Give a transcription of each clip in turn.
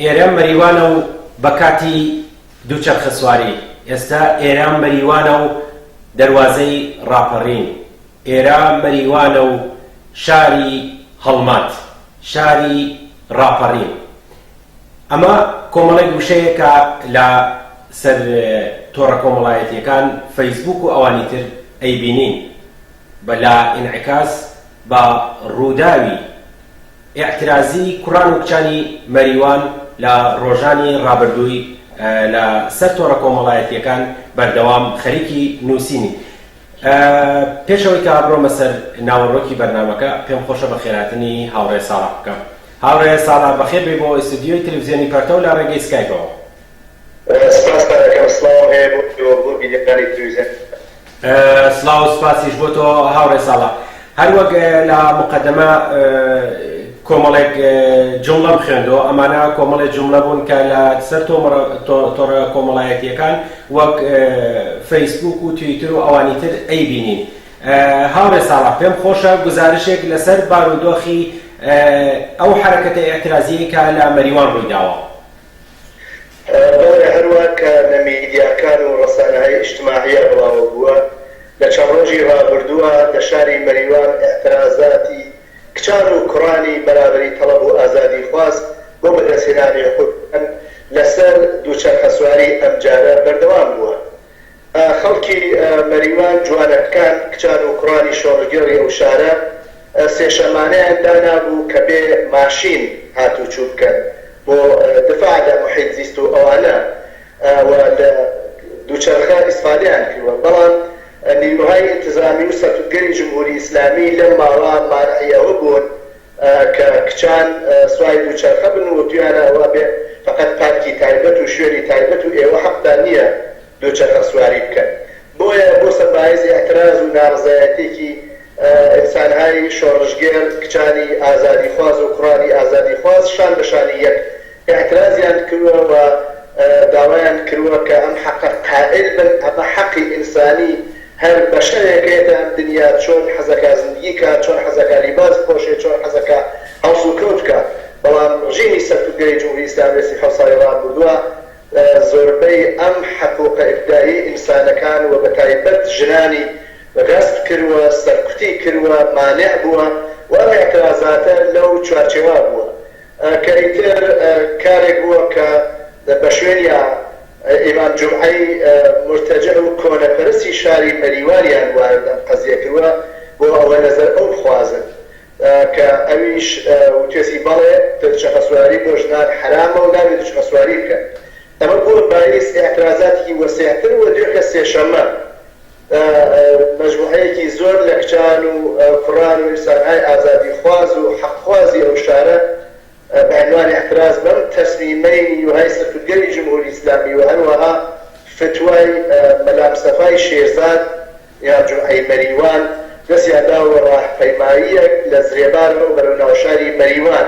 ئێرە مەریوانە و بە کاتی دووچەرخەسواری. ئێستا ئێرە مەریوانە و دەروازەی ڕاپەڕین. ئێرە مەریوانە و شاری هەڵمەت، شاری ڕاپەڕین. ئەمە کۆمەڵێک وشەیە کە لە سەر تۆڕە کۆمەڵایەتییەکان، فەیسبووک و ئەوانی تر ئەیبینین. بە لا ئینعکاس بە ڕووداوی ئیعترازی کوڕان و کچانی مەریوان لە ڕۆژانی ڕابردووی لە سەر تۆڕە کۆمەڵایەتییەکان بەردەوام خەریکی نووسینی. پێش ئەوەی کە بڕۆمە سەر ناوەڕۆکی بەرنامەکە پێم خۆشە بە خێرهاتنی هاوڕێ ساڵح بکەم. هاوڕێ ساڵح بەخێر بێی بۆ ئیستودیۆی تەلەفزیۆنی پەرتەو لە ڕێگەی سکایپەوە. سپاستان ئەکەم سڵاوم هەیە بۆ ئێوە بۆ بینەرانی تلویزیۆنی ئێران. سڵاو و سپاسیش بۆ تۆ هاوڕێ ساڵح. هەر وەک لە موقەدەمە کۆمەڵێک جومڵەم خوێندەوە، ئەمانە کۆمەڵێ جومڵە بوون کە لە سەر تۆمڕە تۆڕە کۆمەڵایەتییەکان وەک فەیسبووک و تویتر و ئەوانی تر ئەیبینین. هاوڕێ ساڵح پێم خۆشە گوزارشێک لە سەر بارودۆخی ئەو حەرەکەتە ئیعترازییەی کە لە مەریوان ڕووی داوە. بۆیە هەروا کە لە میدیاکان و ڕەسانەهای ئیجتماعیا بڵاوە بووە، لە چەند ڕۆژی ڕابردووە لە شاری مەریوان ئیعترازاتی کچان و کوڕانی بەرابەری تەڵەب و ئازادیخواز بۆ بەدەستهێنانی حقووقیان لە سەر دووچەرخەسواری ئەمجارە بەردەوام بووە خەڵکی مەریوان، جوانەکان، کچان و کوڕانی شۆڕشگێڕی ئەو شارە، سێ شەمانەیان دانابوو کە بێ ماشین هاتووچوو بکەن بۆ دفاع لە محیط زیست و ئەوانە و لە دووچەرخە ئیسفادەیان کردووە. بەڵام نیروهای انتظامی و سەرکوتگەری جمهوری ئیسلامی لەم ماوە مانعی ئەوە بوون، کە کچان سواری دووچەرخە بن و دویانە ئەوە بێ فەقەت پارکی تایبەت و شوێنی تایبەت و ئێوە حەقتان نییە دووچەرخە سواری بکەن بۆیە بۆ سەر بایز ئیعتراز و نارزایەتیەکی ئینسانهای شۆڕشگێر کچانی ئازادیخواز و کوڕانی ئازادیخواز شان بە شانی یەک ئیعترازیان کروە و داوایان کروە کە ئەم حەقە قائل بن، ئەمە حەقی ئینسانی هەر بەشەرێکەیە لە ئەم دنیا چۆن حەزەکا زندگی کا، چۆن حەزەکا لیباس بپۆشێ، چۆن حەزەکا هەڵسوکەوت کا. بەڵام ڕژیمی سەرکوتگەری جمهوری ئیسلامی لە سی حەوت ساڵی ڕابوردوا زۆربەی ئەم حقوقە ئیبدائیەی ئینسانەکان و بەتایبەت ژنانی غەسب کروە، سەرکوتی کروە، مانع بوە و ئەم ئیعترازاتە لەو چوارچێوا بوە کە ئیتر کارێک بووە کە بە شوێنیا ئیمام جومعەی مورتەجع و کۆنەپەرستی شاری مەریواریان وارد ئەم قەزیە کروە بۆ ئەوە نەزەر ئەو بخوازن کە ئەویش وتوێتی بەڵێ دوچەخەسواری بۆ ژنان حەرامە و نابێ دوچخەسواری بکەن ئەمە بووە بایس ئیعترازاتیکی وەسیعتر و دوێکە سێشەمە مەجموعەیەکی زۆر لە کچان و کوڕان و ئینسانهای ئازادیخواز و حەقخوازی ئەو شارە بە عینوان اعتراض بەم تەسمیمەی نیوهای سەرکوتگەری جمهوری ئیسلامی و هەروەها فتوای مەلامستەفای شێرزاد یا جوعەی مەریوان دەستیان داوە بە راهپەیماییەک لە زرێبارەوە بەرەو ناوشاری مەریوان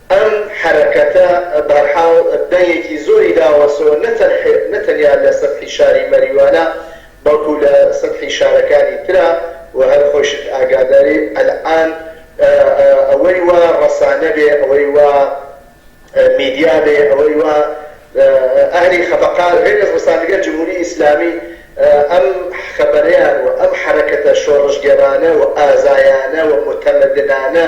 ئەم حەرەکەتە بەرحاڵ دەنگێکی زۆری داوەسۆ نە تەنیا لە سەتحی شاری مەریوانە بەڵکو لە سەتحی شارەکانی ترا و هەر خۆیشت ئاگاداری ئەلئان ئەوەی وا ڕەسانە بێ ئەوەی وا میدیا بێ ئەوەی وا ئەهلی خەفەقان غەیرەز ڕسانگە جمهوری ئیسلامی ئەم خەبەرەیان و ئەم حەرەکەتە شۆڕشگێڕانە و ئازایانە و موتەمەدنانە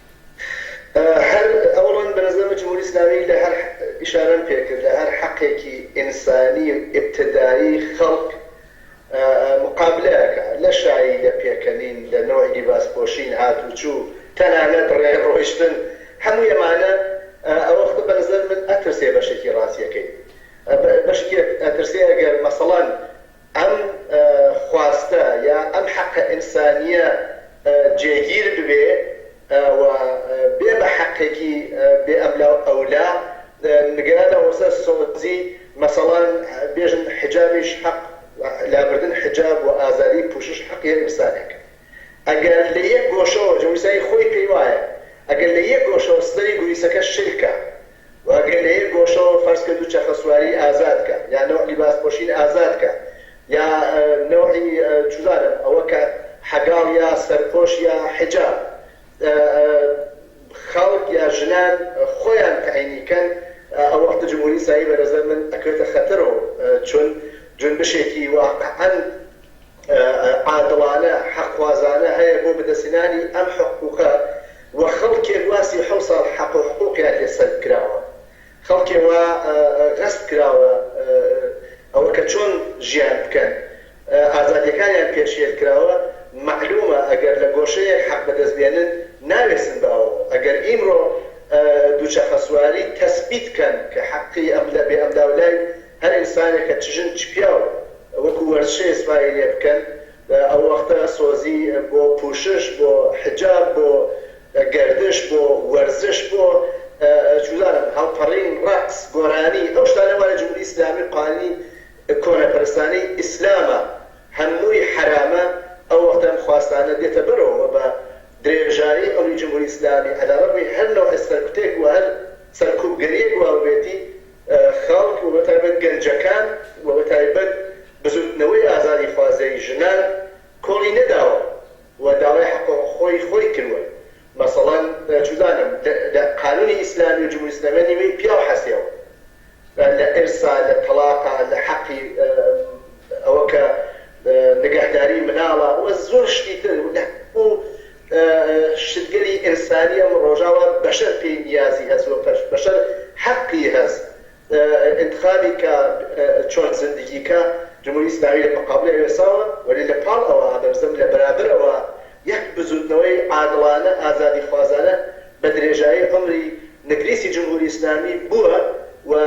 هەر ئەوڕۆن بە نەزەر من جمهوری ئیسلامی لە هەر ئیشارەم پێ کرد لە هەر حەقێکی ئینسانی و ئیبتدایی خەڵک مقابلە ئەکا لە شایی لە پێکەنین لە نەوعی لیباس پۆشین هات و چوو تەنانەت ڕێ ڕۆیشتن هەمووی ئەمانە ئەوە خۆ بە نەزەر من ئەترسێ بەشێکی ڕازیەکەی بەشێکی ئەترسێ ئەگەر مەسەڵەن ئەم خواستە یا ئەم حەقە ئینسانییە جێگیر ببێ و بێ بە حەقێکی بێ ئەملا و ئەولا، نگەرانە وەسە سۆزی مەسەڵان بێژن حیجابیش حەق لابردن حیجاب و ئازادی پوشش حەقیە ئینسانێک ئەگەر لە یەک گۆشەوە جویسەی خۆی پێی وایە ئەگەر لە یەک گۆشەوە سنەری گویسەکە شل کا و ئەگەر لە یەک گۆشەوە فەرز کە دووچەخەسواری ئازاد کە یا نەوع لیباس پۆشین ئازاد کە یا نەوعی چوزانم ئەوە کە حەگاڵ یا سەرپۆش یا حیجاب خەڵک یا ژنان خۆیان تەعینی کەن ئەو وەختە جمهوری ئیسلامی بەنەزەر من ئەکەوێتە خەتەرۆ چون جونبشێکی واقعەن عادڵانە، حەقخوازانە هەیە بۆ بەدەستهێنانی ئەم حقوقە و خەڵکێک وا سی و حەوت ساڵ حەق و حقوقیان لێ سەلب کراوە، خەڵکێ وا غەسب کراوە ئەوە کە چۆن ژیان بکەن، ئازادیەکانیان پێشێل کراوە، مەعلومە ئەگەر لە گۆشەیەک حەق بەدەست بێنن ناوێسن بە ئەوە، ئەگەر ئیمڕۆ دووچەخەسواری تەسبیت کەن کە حەقی ئەم لای بێ ئەم لاولای هەر ئینسانێکە چ ژن چ پیاو، وەکو وەرچێ سپایی لێ بکەن ئەو وەختە سۆزی بۆ پوشش بۆ حجاب بۆ گەردش بۆ وەرزش بۆ چوزانم هەڵپەڕین ڕەقس گۆرانی ئەو شتانە وایە جمهوری ئیسلامی قالی کۆنەپەرستانەی ئیسلامە هەمووی حەرامە ئەو وەختە ئەم خواستانە دێتە بەرەوە وە بە درێژایی ئەمری جمهوری ئیسلامی عەلەڕەغمی هەر نەوعێ سەرکوتێک وە هەر سەرکوبگەریەک واببێتی خەڵک و بەتایبەت گەنجەکان و بەتایبەت بزووتنەوەی ئازادیخوازەی ژنان کۆڵی نەداوە و داوای حەقوقی خۆی کرووە مەسەڵەن چودانم لە قانونی ئیسلامی و جمهوری ئیسلامی نیوەی پیاو حەسێوە لە ئیرسا لە تەڵاقا لە حەقی ئەوە کە نگەهداری مناڵە و زۆر شتی تر و شتگەلی ئێنسانی ئەم ڕۆژاوا بەشەر پێی نیازی هەس وە بەشەر حەقی هەس ئینتخابی کا چۆن زندگی کا جمهوری ئیسلامی لە مقابل ئەوێ ساوە وەلی لە پاڵ ئەوە ئادەمزم لە بەرابەر ئەوە یەک بزوتنەوەی عادڵانە ئازادی خوازانە بە درێژایی عومری نگریسی جمهوری ئیسلامی بوە وە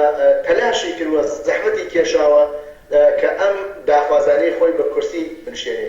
تەلاشی کرد وە زەحمەتی کێشاوە کە ئەم داخوازانەی خۆی بە کورسی بنشێنێ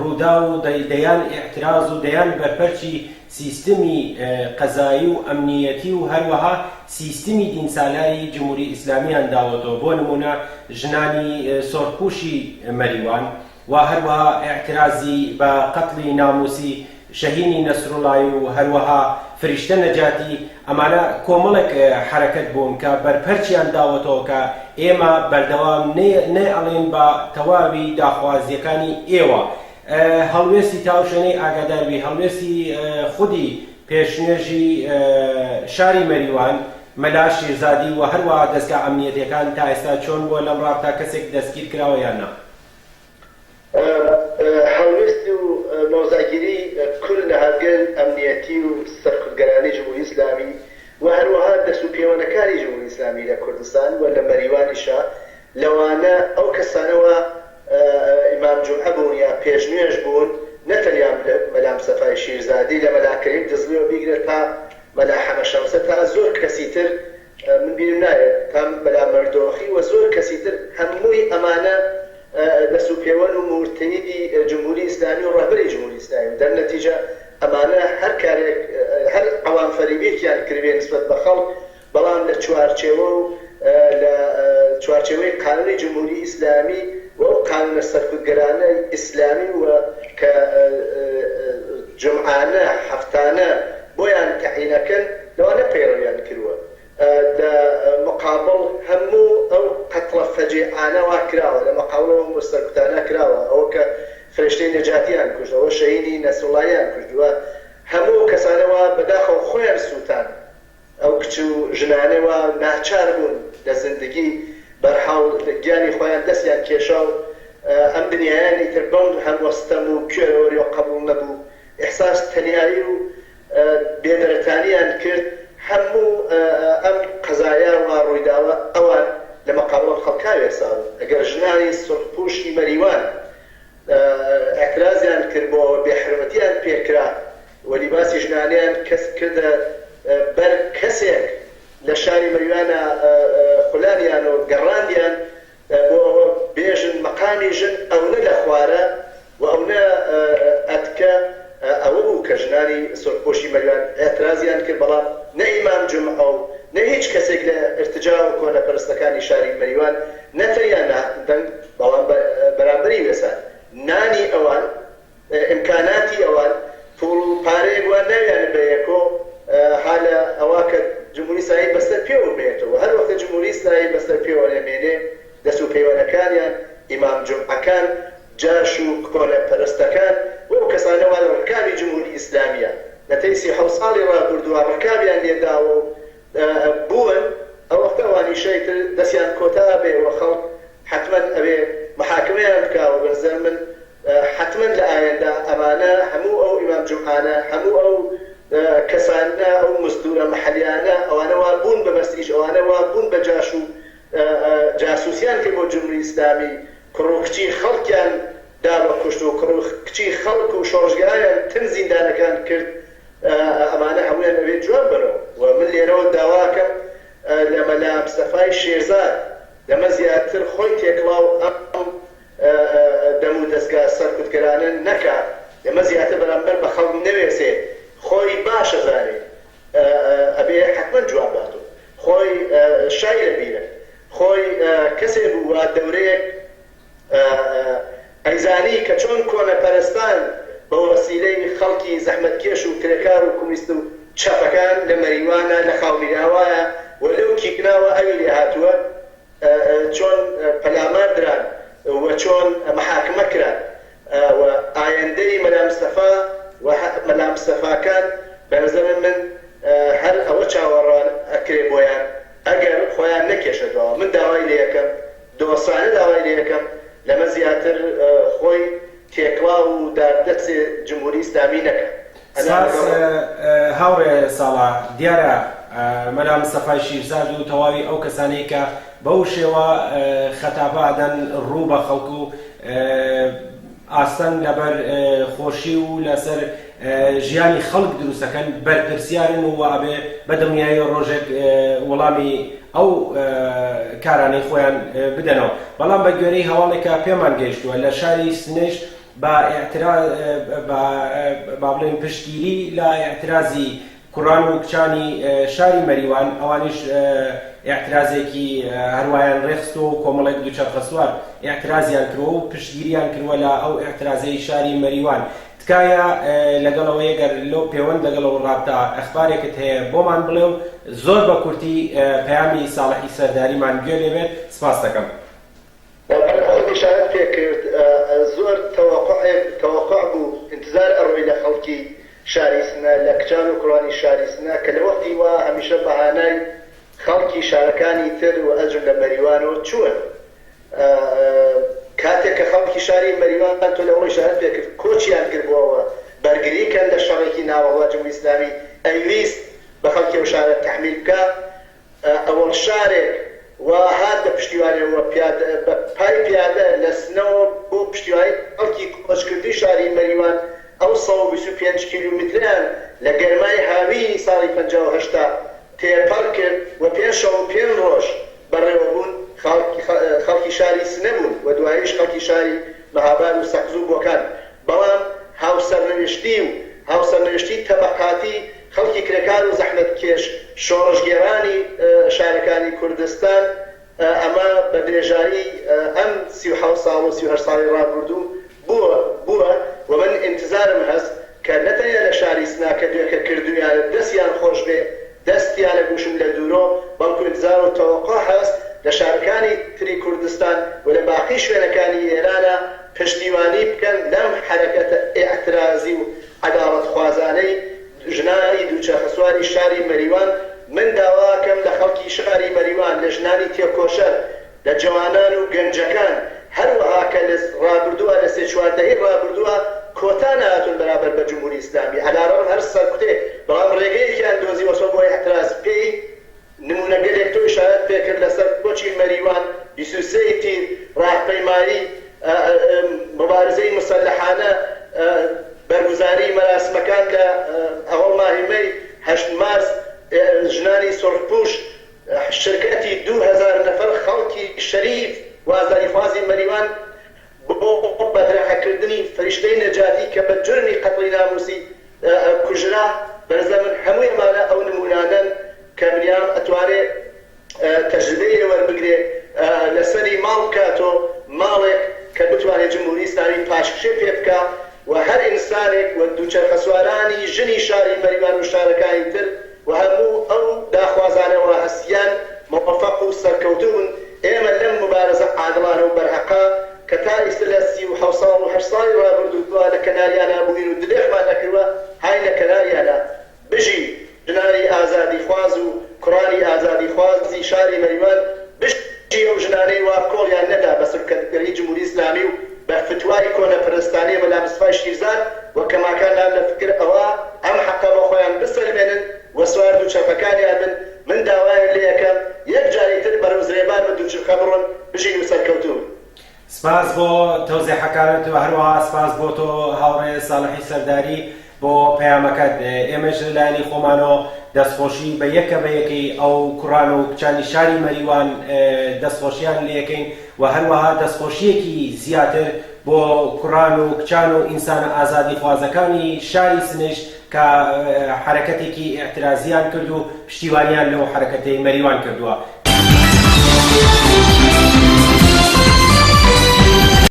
رووداو و دەیان ئیعتراز و دەیان بەرپەرچی سیستمی قەزایی و ئەمنییەتی و هەروەها سیستمی دیینسالاری جمهوری ئیسلامییان داوەتەوە، بۆ نموونە ژنانی سۆرپووشی مەریوان و هەروەها ئیعترازی بە قەتڵی نامووسی شەهینی نەسروڵایی و هەروەها فریشتە نەجاتی، ئەمانە کۆمەڵێک حەرەکەت بوون کە بەرپەرچیان داوەتەوە کە ئێمە بەردەوام نەیەڵێین بە تەواوی داخوازییەکانی ئێوە هەڵوێستی تاوشوێنەی ئاگاداربی هەڵوێستی خودی پێشنوێژی شاری مەریوان مەلا شیرزادی و هەروەها دەزگا ئەمنیەتیەکان تا ئێستا چۆن بووە لەم ڕابتا کەسێک دەستگیرکراوە یان نا؟ هەڵوێست و مەوزاگیری کل لە هەڵگەل ئەمنیەتی و سەرکوتگەرانەی جمهوری ئیسلامی و هەروەها دەس و پێوەنەکانی جمهوری ئیسلامی لە کوردستان و لە مەریوانیشا لەوانە ئەو کەسانە وا ئیمام جومعە بوون یا پێشنوێژ بوون نەتەنیا مەلا مستەفای شیرزادی لە مەلا کەریم دزڵیەوە بیگرە تا مەلا حەمە شەمسە تا زۆر کەسی تر من بیرم نایەت پەم بەلا مەردۆخی و زۆر کەسی تر هەمووی ئەمانە دەست و پێوەن و مورتەیدی جمهوری ئیسلامی و ڕەهبەری جمهوری ئیسلامی و دەر نەتیجە ئەمانە هەر کارێک هەر عەوام فەریبێکیان کردبێ نسبەت بە خەڵک بەڵام لە چوارچێوە و لە چوارچێوەی قانونی جمهوری ئیسلامی و ئەو قانونە سەرکوتگەرانەی ئیسلامی و کە جمعانە حەفتانە بۆیان تەعینەکەن. لەوانە پەیڕەویان کروە لە مقابڵ هەمو ئەو قەتڵە فەجێعانە واکراوە لە مقابڵ ئەو هەمو سەرکوتانە کراوە ئەوە کە فرێشتەی نەجاتیان کوشت ئەوە شەهینی نەسروڵایان کوشت و هەمو ئەو کەسانە وا بەداخەوە خۆیان سوتان ئەو کچ و ژنانە وا ناچار بون لە زندگی بەرحاڵ گیانی خۆیان دەسیان کێشا و ئەم دنیایان ئیتر بەم هەموە ستەم و کوێرەوەریەوە قەبوڵ نەبو ئیحساس تەنیایی و بێدەرەتانیان کرد هەموو ئەم قەزایا و ڕویداوە ئەوان لە مەقابڵەم خەڵکا وێرساون گەر ژنانی سورخ پوشی مەریوان ئعترازیان کرد بۆ ئەوە بێحرمەتیان پێ کرا و لیباسی ژنانەیان کەس کردە بەر کەسێک لە شاری مەریوانا خولانیان و گەڕاندیان بۆ ئەوە بێژن مەقامی ژن ئەونە لە خوارە و ئەونە ئەتکە ئەوە بوو کە ژنانی سورخپۆشی مەریوان ئیعترازیان کرد بەڵام نە ئیمام جومعە و نە هیچ کەسێک لە ئیرتجاع و کۆنە پەرستەکانی شاری مەریوان نە تەنیا نەهاتن دەنگ بەڵام بەرامبەری وێسان نانی ئەوان ئیمکاناتی ئەوان پوڵ و پارەیەک وان ناویانە بە یەکۆ ها لە ئەوا کە جمهوری ئیسرائیل بەسەر پێوە مێنێتەوە وە هەر وەختە جمهوری ئیسرائیل بەسەر پێوە ئەمێنێ دەست و پێوەنەکانیان ئیمام جمعەکان جاش و کۆنە پەرستەکان و ئەو کەسانە وا لە ڕکابی جمهوری ئیسلامیە لە تەی سی حەوت ساڵی ڕابوردوە ڕکابیان لێ داوە و بوون ئەو وەختە ئەوانیش ئیتر دەسیان کۆتا ئەبێ وە خەڵک حەتمەن ئەبێ محاکمەیان بکا وە بەنزەر من حەتمەن لە ئایندە ئەمانە هەموو ئەو ئیمام جومعانە هەموو ئەو کەسانە ئەو مزدورە محلیانە ئەوانە وا بوون بە بەس ئیش ئەوانە وا بوون بە جاش و جاسوسیان کرد بۆ جمری ئیسلامی کوڕ و کچی خەڵکیان دا بە کوشت و کوڕ و کچی خەڵک و شۆڕشگێرایان تن زیندانەکان کرد ئەمانە هەموویان ئەبێ جواب بەرەوە و من لێرەوە داواکەم لە مەلا مستەفای شێرزاد لەمە زیاتر خۆی تێکڵاو ئەم دەمو دەزگا سەرکوتگەرانە نەکا ئێمە زیاتر بەرامبەر بە خەڵک نەوێسێ خۆی باش ئەزانێ ئەبێ حەتمەن جواب باتۆ خۆی شای لە بیرە خۆی کەسێ بو وا دەورەیەک ئەیزانی کە چۆن کۆنە پەرستان بە وەسیلەی خەڵکی زەحمەت کێش و کرێکار و کومیست و چەپەکان لە مەریوانە لە خاومیراوایە و لەو کیکناوە ئەوی لێ هاتوە چۆن پەلامار دران و چۆن محاکمە کران و ئایندەی مەلا مستەفا و مەلا مستەفاکان بە نەزەر من هەر ئەوە چاوەڕان ئەکرێ بۆیان ئەگەر خۆیان نەکێشە دواوە من داوای لێ ئەکەم دۆستانە داوای لێ ئەکەم لەمە زیاتر خۆی تێکڵاو و داردەسێ جمهوری ئیسلامی نەکا سپاس هاوڕێ ساڵار. دیارە مەلا مستەفای شیرزاد و تەواوی ئەو کەسانەی کە بەو شێوە خەتابە ئەدەن ڕوو بە خەڵک و ئاستەنگ لەبەر خۆشی و لەسەر ژیانی خەڵک دروست ئەکەن بەرپرسیارن و ئەبێ بە دڵنیایی ڕۆژێک وڵامی ئەو کارانەی خۆیان بدەنەوە. بەڵام بە گوێرەی هەواڵێک کە پێمان گەیشتووە لە شاری سنەیش بە ئیعترا بە با بڵێن پشتگیری لە ئیعترازی کوڕان و کچانی شاری مەریوان ئەوانیش ئیعترازێکی هەروایان ڕێخستەوە و کۆمەڵێک دووچەرخەسوار ئیعترازیان کردەوە و پشتگیریان کردوە لە ئەو ئیعترازەی شاری مەریوان تکایە لەگەڵەوە یەگەر لەو پێوەند لەگەڵەوە ڕابتا ئەخبارێکت هەیە بۆمان بڵێ و زۆر بە کورتی پەیامی ساڵحی سەرداریمان گوێ لێ بێت سپاس دەکەم. بەڵام خۆم ئیشارەت پێ کرد زۆر تەوەقوعێک تەوەقوع بوو ئینتزار ئەڕۆی لە خەڵکی شاری سنە لە کچان و کوڕانی شاری سنە کە لە وەختی وا هەمیشە بەهانای خەڵکی شارەکانی تر و ئەجم لە مەریوانەوە چوون کاتێک کە خەڵکی شاری مەریوان تۆ لەوەڵ ئیشارەت پێ کرد کۆچیان کرد بۆ ئەوە بەرگری کەن لە شەڕێکی ناوەڕوا جمهوری ئیسلامی ئەیویست بە خەڵکی ئەو شارە تەحمیل بکا ئەوەڵ شارێک وە هات بە پشتیوانی وە پیادە بە پای پیادە لە سنەوە بۆ پشتیوانی خەڵکی کۆچ کردووی شاری مەریوان ئەو سەد و بیست و پێنج کیلومترەیان لە گەرمای هاوینی ساڵی پەنجا و هەشتا تێپەڕ کرد وە پێنج شەو و پێنج ڕۆژ بەڕێوە بوون خەڵکی شاری سنە بوون وە دواییش خەڵکی شاری مەهاباد و سەقز و بۆکان بەڵام هاوسەرنوشتی و هاوسەرنوشتی تەبەقاتی خەڵکی کرێکار و زەحمەتکێش شۆڕشگێڕانی شارەکانی کوردستان ئەمە بە درێژایی ئەم سی و حەوت ساڵ و سی و هەشت ساڵی ڕابوردوو بووە بووە و من ئینتزارم هەست کە نە تەنیا لە شاری سنە کە دوێکە کردوویانت دەستیان خۆش بێ دەستیان ئەگوشم لە دوورۆ بەڵکو ئینتزار و تەوەقوع هەست لە شارەکانی تری کوردستان و لە باقی شوێنەکانی ئێرانە پشتیوانی بکەن لەم حەرەکەتە ئیعترازی و عەداڵەتخوازانەی ژنانی دووچەرخەسواری شاری مەریوان، من داواکەم لە خەڵکی شاری مەریوان، لە ژنانی تێکۆشەر، لە جەوانان و گەنجەکان، هەروەها کە لە رابردووە لە سێ چوار دەهەی رابردووە کۆتا نەهاتوون بەرامبەر بە جمهوری ئیسلامی، عەلارەغم هەر سەرکوتێ بەڵام رێگەیەکیان دۆزیوەسەوە بۆ ئیعتراز پێی، نموونەگەلێک تۆی شایەت پێکرد لەسەر کۆچی مەریوان بیست و سێ ی تیر، ڕاهپەیمایی موبارزەی موسەلەحانە، بەرگوزاری مەراسمەکان لە ئهوڵ ماهی مەی، هەشت مارس، ژنانی سورخپووش، شرکەتی دوو هەزار نەفەر خەڵکی شەریف و ئازادیخوازی مەریوان بۆ بەدرەخەکردنی فریشتەی نەجاتی کە بە جورمی قەتڵی ناموسی کوژرا بەرزەمن هەموی ئەمانە ئەو نمونانەن کە بنیام ئەتوانێ تەجربەی لێ وەربگرێ لەسەری ماڵ بکاتۆ ماڵێک کە بتوانێ جمهوری ئیسلامی پاشکشێ پێ بکا و هەر ئینسانێک و دوچەرخەسوارانی ژنی شاری مەریوان و شارەکانی تر و هەموو ئەو داخوازانە وا هەستیان مۆفەق و سەرکەوتوون، ئێمە لەم موبارەزە عادڵانە و بەرهەقە کە تا ئیستە لە سی و حەوت ساڵ و هەشت ساڵی ڕابردوودا لە کەناریانا بووین و دلێخمان نەکردووە هاینە کەناریانا. بژی ژنانی ئازادیخواز و کوڕانی ئازادیخوازی شاری مەریوان، بژی ئەو ژنانەی وا کۆڵیان نەدا بە سولکەندگەری جمهوری ئیسلامی و بە فتوای کۆنە پەرستانەی مەلا مستفای شیرزاد و کەماکان لام لە فکر ئەوە ئەم حەقە بۆ خۆیان بسەلمێنن و سوار دووچەرخەکانیان بن من داوایان لێ ئەکەم یەک جاری تر بەرەو زرێبار بە دووچرخە بڕۆن بژین و سەرکەوتوو بن. سپاس بۆ تەوزێحەکانت و هەروەها سپاس بۆ تۆ هاوڕێ ساڵحی سەرداری بۆ پەیامەکەت، ئێمەش لە لایەنی خۆمانەوە دەستخۆشی بە یەکە بە یەکەی ئەو کوڕان و کچانی شاری مەریوان دەستخۆشییان لێکەین و هەروەها دەستخۆشییەکی زیاتر بۆ کوڕان و کچان و ئینسانە ئازادیخوازەکانی شاری سنەیش کە حەرەکەتێکی ئیعترازییان کرد و پشتیوانییان لەو حەرەکەتەی مەریوان کردووە.